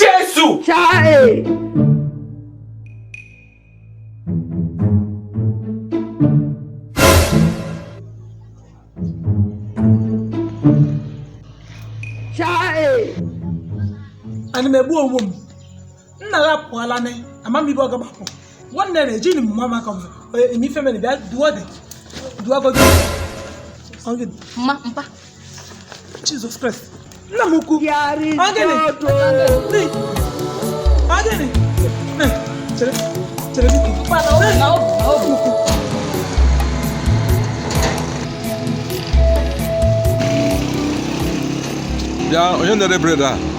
Jesu! Chai! Chai! Ana m egbu onwe m nna gị apụọla na ama m ebe ọ gabapụ nwanne na ejini m mama ka eme ife mere bịa duo dị duo godi mma mpa Jesus Christ nna m ukwu ọ gịnị ọ gịnị chere chere biko bịa onye na-ere bread a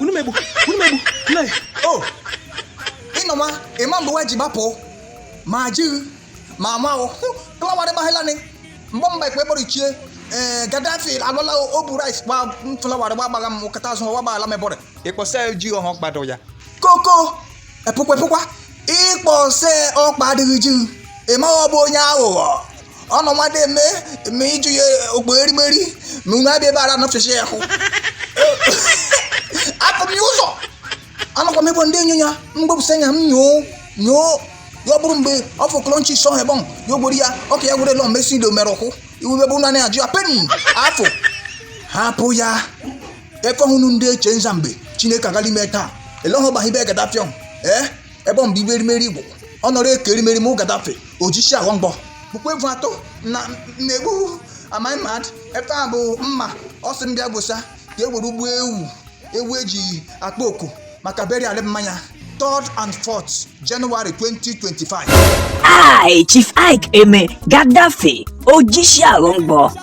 unu megbu unu megbu nne o ị nọ ma ị ma mgbe nwa ji gbapụ ma jighị ma amahụ klawarị gbahịlanị mgbe mba ikpe kpọrọ ichie ee Gaddafi alọla o bu rice gba flawarị gba gbagha m kata azụ gba gbaghala mebọrị ị kpọsa ji ọhọ kpado ya koko epụkwa epụkwa ị kpọsa ọkpa adịghị ji ị ma ọ bụ onye aghụghọ ọnụ mmadụ eme eme ịjụ ya ogbo erimeri ma unu abịa ebe ara nọfesi ya hụ apụ m ya ụzọ anọkwa m ịbụ ndị enyo ya mgbepụsa anya m nyoo nyoo ya ọ bụrụ mgbe ọ fọkọrọ nchi sọ hebọn ya ogbori ya ọka ya gwere lọ mgbe si ido mere ụkwụ iwu ebe ụnụ anaghị ajụ ya penny afọ hapụ ya efe hụnụ ndị eche nza mgbe Chineke agala ime taa ele ọhụ gbahibe Gaddafi m ee ebe ọ mgbe ibe erimeri igbo ọ nọrọ eke erimeri mụ Gaddafi Ojishi Aghọmgbọ bụkwa evu atọ na na-egbu am I mad ebe a bụ mma ọ sị m bịa gbosa ka e were ụgbọ ewu ewu e ji akpọ oku maka burial mmanya 3rd and 4th January 2025 I, Chief Iyke Eme, Gaddafi, Ojishi Aghọmgbọ,